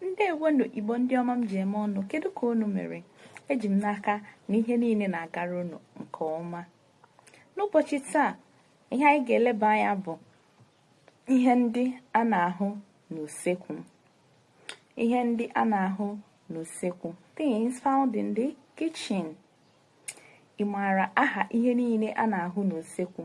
ndewonu igbo ndị ọma m ji eme ọnụ kedu ka unu mere eji m n'aka na ihe niile na-agara unu nke ọma n'ụbọchị taa ihe anyị ga-eleba anya bụ ihe ndị a na-ahụ n'usekwu ihe ndị a na-ahụ n'usekwu things found in the kitchen ị maara aha ihe niile a na-ahụ n'usekwu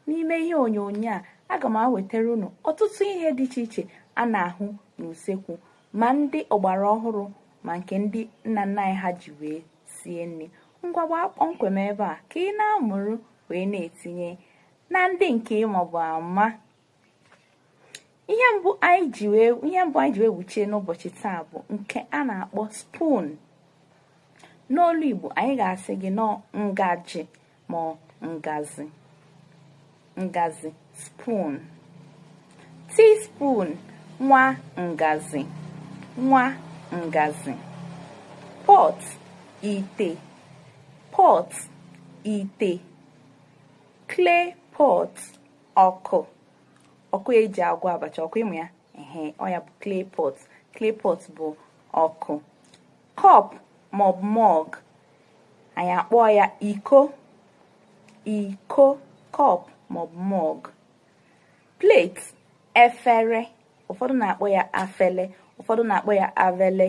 n'ime ihe onyonyo a aga m ewetara unu ọtụtụ ihe dị iche iche a na-ahụ n'usekwu ma ndị ọgbara ọhụrụ ma nke ndị nna nna anyị ha ji wee sie nri ngwa gbaa kpọmkwem ebe a ka ị na-amụrụ wee na-etinye na ndị nke ị mabu ama ihe ihe mbụ anyị ji wee wụchie n'ụbọchị taa bụ nke a na-akpọ spoon n'olu Igbo anyị ga-asị gị n'ọ ngaji ma ọ ngazi ngazi spoon teaspoon nwa ngazi nwa ngazi pot ite pot ite clay pot ọkụ ọkụ eji agwọ abacha ọkụ ị ma ya ehe ọ ya bụ clay pot clay pot bụ ọkụ cup maọbụ mug anyị akpọ ya iko iko cup maọbụ mug plate efere ụfọdụ na-akpọ ya afele ụfọdụ na-akpọ ya avele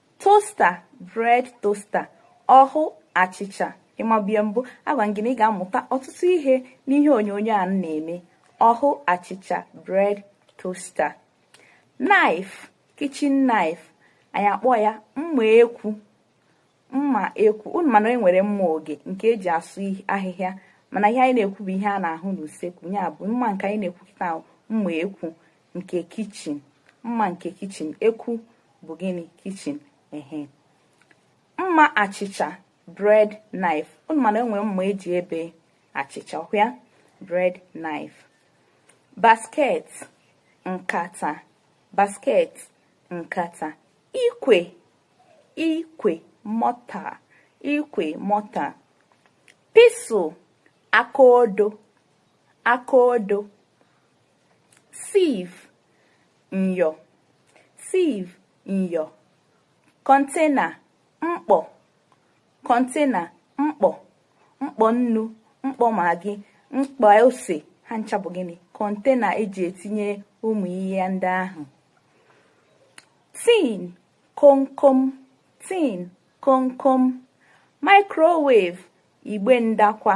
toaster bread toaster ọhụ achịcha ị mabu ya mbụ agwa gị na ị ga-amụta ọtụtụ ihe n'ihe onyonyo a m na-eme ọhụ achịcha bread toaster knife kitchen knife anyị akpọ ya mma ekwu mma ekwu unu ma na e nwere mma ọge nke eji asụ ahịhịa mana ihe anyị na-ekwu bụ ihe a na-ahụ n'usekwu ya bụ mma nke anyị na-ekwu kịta mma ekwu nke kitchen mma nke kitchen ekwu bụ gịnị kitchen ehe mma achịcha bread knife unu ma na enwere mma eji ebe achịcha ọ ya bread knife basket nkata basket nkata ikwe ikwe mortar ikwe mortar pestle akaodo akaodo sieve nyọ sieve nyọ container mkpọ container mkpọ mkpọ nnu mkpọ maggi mkpọ ose ha ncha bụ gịnị container eji etinye ụmụ ihe ndị ahụ tin komkom tin komkom microwave igbe ndakwa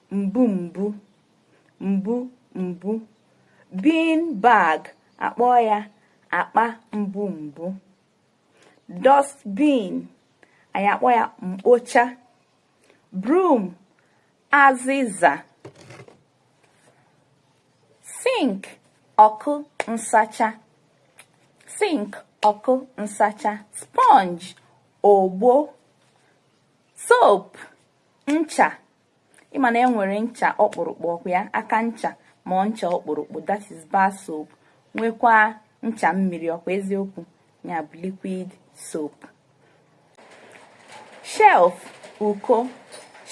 mbu mbu mbu mbu bin bag akpọ ya akpa mbu mbu dustbin anyị akpọ ya mkpocha broom azịza sink ọkụ nsacha sink ọkụ nsacha sponge ogbo soap ncha ị ma na e nwere ncha ọkpụrụkpụ ọ kwa ya aka ncha ma ọ ncha ọkpụrụkpụ that is bar soap nwekwa ncha mmiri ọ kwa eziokwu ya bụ liquid soap shelf uko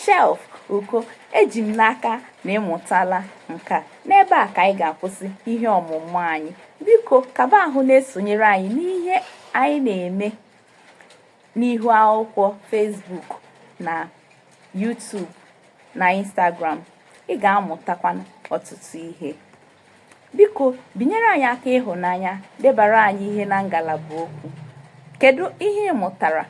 shelf uko eji m n'aka na ị mụtala nke a n'ebe a ka anyị ga-akwụsị ihe ọmụmụ anyị biko kaba ahụ na-esonyere anyị n'ihe anyị na-eme n'ihu akwụkwọ Facebook na YouTube na Instagram ị ga-amụtakwa ọtụtụ ihe biko binyere anyị aka ịhụnanya debara anyị ihe na ngalaba okwu kedu ihe ị mụtara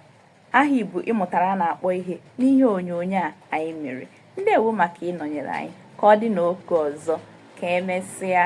aha Igbo ị mụtara a na-akpọ ihe n'ihe onyonyo a anyị mere ndewo maka ịnọnyere anyị ka ọ dị n'oge ọzọ ka emesịa